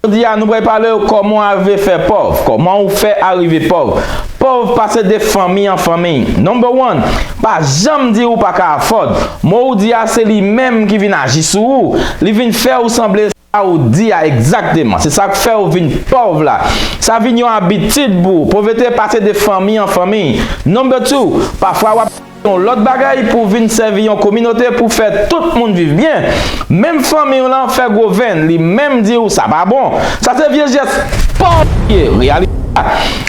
Jodi a nou pral pale w kòman w arive fè pòv, kòman ou fè arive pòv. Pòv pase de fanmi an fanmi. Number one, pa janm di ou pa ka afford. Mo ou di a se li menm ki vin aji sou ou, li vin fè ou sanble sa ou di a egzakteman. Se sa k fè ou vin pòv la. Sa vin yon abitid pou ou. Povrete pase de fanmi an fanmi. Number two, pafwa w ap. Se yon lòt bagay pou w vin sèvi yon kominote pou fè tout moun viv byen, menm fanmi w lan fè gwo venn li menm di w sa pa bon, sa se vye jès pòv li ye, reyalite la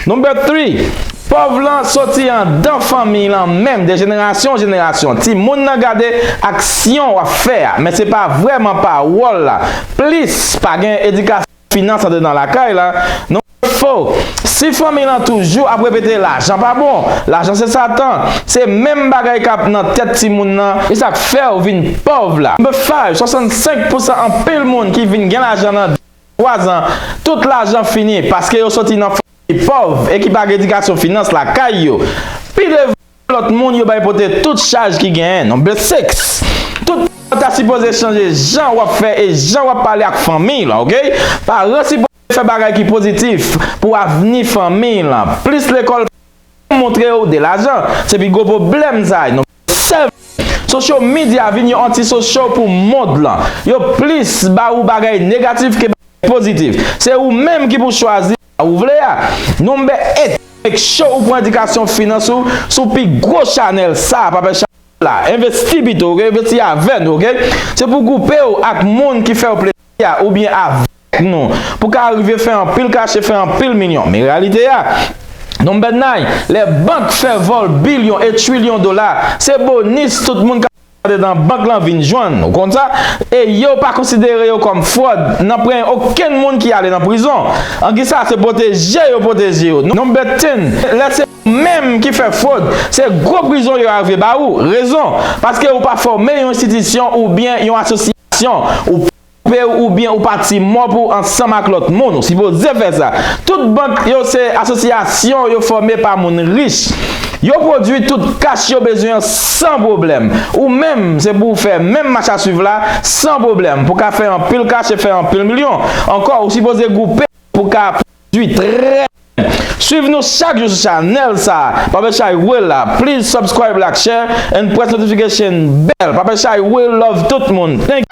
Number three, pòv lan soti andan fanmi lan menm de jenerasyon an jenerasyon, timoun nan gade aksyon w ap fè a men se pa vrèman pawòl la, plis pa gen edikasyon. Finans antre nan lakay la, nou wè fo, si fanmi lan toujou ap repete lajan pa bon, lajan se satan, se menm bagay kap nan tèt timoun lan, e sak fèw vin pòv la, number five 65 pousan anpil moun ki vin gen lajan nan 2 an 3 zan tout lajan fini paske yo soti nan fanmi ki pòv e ki pa gen edikasyon finans lakay yo, pi devan. Lòt moun yo bay pote tout chaj ki genyen non but sex tout paran ta sipoze chanje jan wap fè e jan wap pale ak fanmiy lan ok paran sipoze fè bagay ki pozitif pou avni fanmiy lan plis lekòl pa janm montrew de lajan se pi gwo pwoblèm sa non but sev sosyo midya vin yon anti sosyo pou mond lan yo plis ba ou bagay negatif ke bagay pozitif se ou menm ki pou chwazi Sa ou vle a? Non bè et make sure ou pran edikasyon finans ou sou pi gwo chanèl sa pa pè chanèl la envesti pito ok envesti avè nou ok se pou goupe ou ak moun ki fèw plezi a oubyen avèk nou pou ka rive fè anpil kache fè anpil milyon men reyalite a non bè nai lè bank fè vòl bilyon e trilyon dola se bonis tout moun ka Andedan bank lan vin jwenn. Ou konn sa? E yo pa konsidere yo kòm fròd. Nan pren okenn moun ki ale nan prizon. An ki sa se pwoteje yo pwoteje yo. Number ten, lè se ou menm ki fè fròd, se gwo prizon yo arive ba ou. Rezon? Paske ou pa fòme yon enstitisyon oubyen yon asosyasyon. Ou pa. Koupe ou oubyen ou pati mò pou ou ansanm ak lòt moun. Ou sipoze fè sa. Tout bank yo se asosyasyon yo fòme pa moun rich. Yo pwodui tout kach yo bezwen an san pwoblèm. Ou menm, se pou ou fè menm machasuiv la san pwoblèm pou ka fè anpil kach e fè anpil milyon. Ankò, ou sipoze goupe pou ka. Ui trè byen swiv nou chak jou sou chanel sa pape chay we la please subscribe lak share and press notification bell pape chay we love tout moun thank you.